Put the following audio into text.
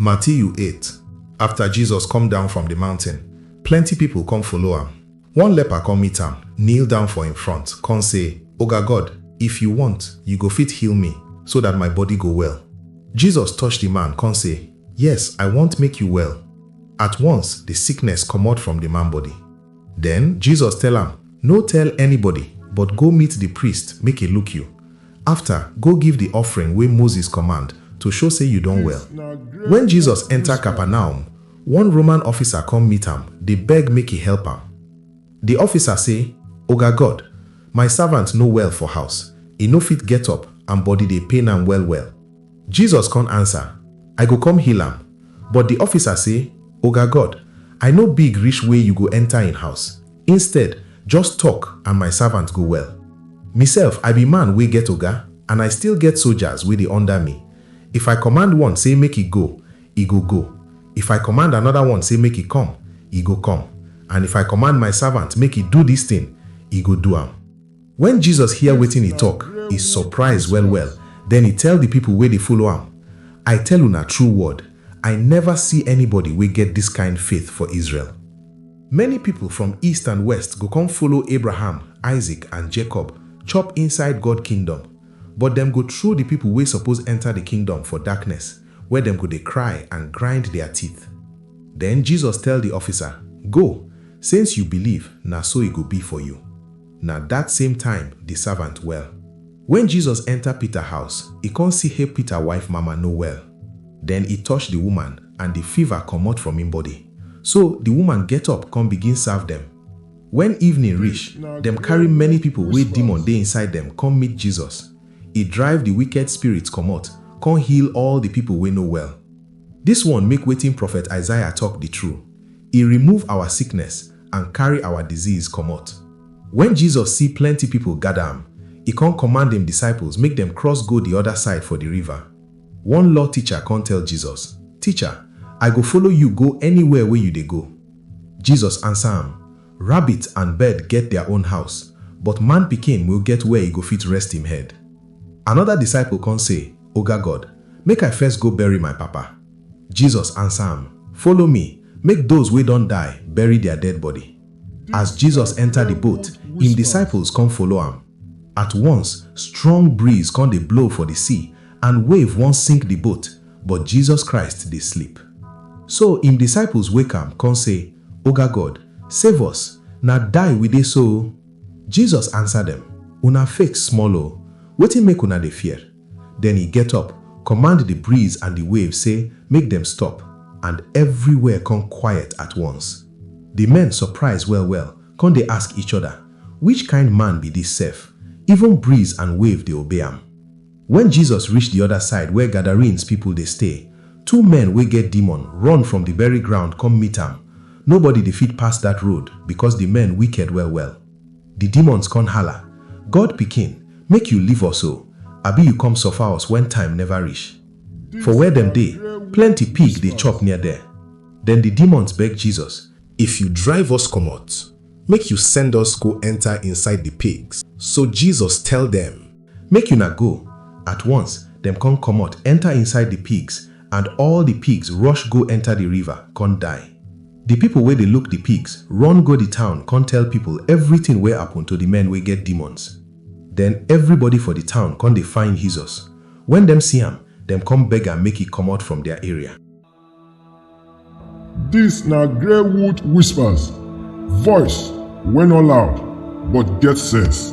Matiyu eight, Afta Jesus kom down from di mountin, plenty pipol kom follow am. One lepa kom meet am, kneel down for en front, kon sey, Oga God, if yu wont, yu go fit heal mi, so dat my body go well. Jesus touch di man kon sey, Yes, I wont make yu well. At once, di sickness komot from di man body. Den, Jesus tell am, No tell anybody, but go meet di priest make e look yu. Afta, go give di offering wey Moses command to show sey yu don well. Wen Jesus enta Capernaum, one Roman officer kom meet am, dey beg make e help am. Di officer sey, Oga God, my savant no well for house, e no fit get up and body dey pain am well-well. Jesus kon ansa, I go kom heal am. But di officer sey, Oga God, I no big rish wey yu go enta en house. Instead, just tok and my savant go well. Misef, I be man wey get oga and I still get sojas wey dey under me. If I kommand one sey make e go, e go go. If I kommand anoda one sey make e kom, e go kom. And if I kommand my savant make e do dis tin, e go do am. Wen Jesus hear wetin e tok, e surprise well-well. Den e tell di pipo wey dey follow am, I tell una true word, I neva see anybody wey get dis kind faith for Israel. Many pipo from east and west go come follow Abraham, Isaac, and Jacob chop inside God Kingdom, but dem go throw di pipo wey suppose enta di Kingdom for darkness, where dem go dey cry and grind dia teeth. Den Jesus tell di officer, Go, since you believe, na so e go be for you. Na dat same time di savant well. Wen Jesus enta Pita house, e kon si he Pita wife mama no well. Den e tosh di woman and di fiva komot from en bodi. So di woman get up kon bigin serve dem. Wen evening rish, dem kari many pipol wey demon dey inside dem kom meet Jesus. E drive di wiked spirits komot kon heal all di pipol wey no well. Dis one make wetin profet Isaiah tok di true, E remove awa sickness and carry our disease komot. Wen Jesus see plenty pipo gada am, e kon kommand im disciples make dem cross go di oda side for di river. One law ticha kon tell Jesus, Ticha, I go follow yu go anywhere wey yu dey go. Jesus ansa am, Rabbit and bird get dia own house, but Man Pikin nwo get where e go fit rest im head. Anoda disciple kon sey, Oga God, make I first go bury my papa. Jesus ansa am, Follow me, make doz wey don die bury dia dead body. As Jesus enta di boat, im disciples kon follow am. At once, strong breeze kon dey blow for di sea and wave won sink di boat, but Jesus Christ dey sleep. So im disciples wake am kon sey, Oga God, save us, na die we dey so o! Jesus ansa dem, Una fake small o! Wetin make una dey fear? Den he get up, kommand di breeze and di wave sey make dem stop, and evriwhere kon kwayet at once. Di men sopraiz well-well kon dey ask each oda, Wich kind man bi dis sef, even breeze and wave dey obey am? Wen Jesus rish di oda side where Gadarenes pipol dey stay, two men wey get demon run from di beri ground kom meet am, nobody dey fit pass dat road bikos di men wiked well-well. Di demons kon hala, God pikin, make yu leave us o, abi yu kom suffer us wen time neva rish? For where dem dey, plenty pig dey chop near der. Den di demons beg Jesus. If yu drive us komot, make yu send us go enter inside di pigs. So Jesus tell dem. Make yuna go! At once, dem kon komot enter inside di pigs and all di pigs rush go enter di river kon die. Di pipol wey dey luk di pigs run go di town kon tell pipol evritin wey apun to di men wey get demons. Den evribody for di town kon dey find Hesus. Wen dem si am, dem kom beg am make e komot from dia area. Dis na grey wood whispers, voice wey nor loud but get sense.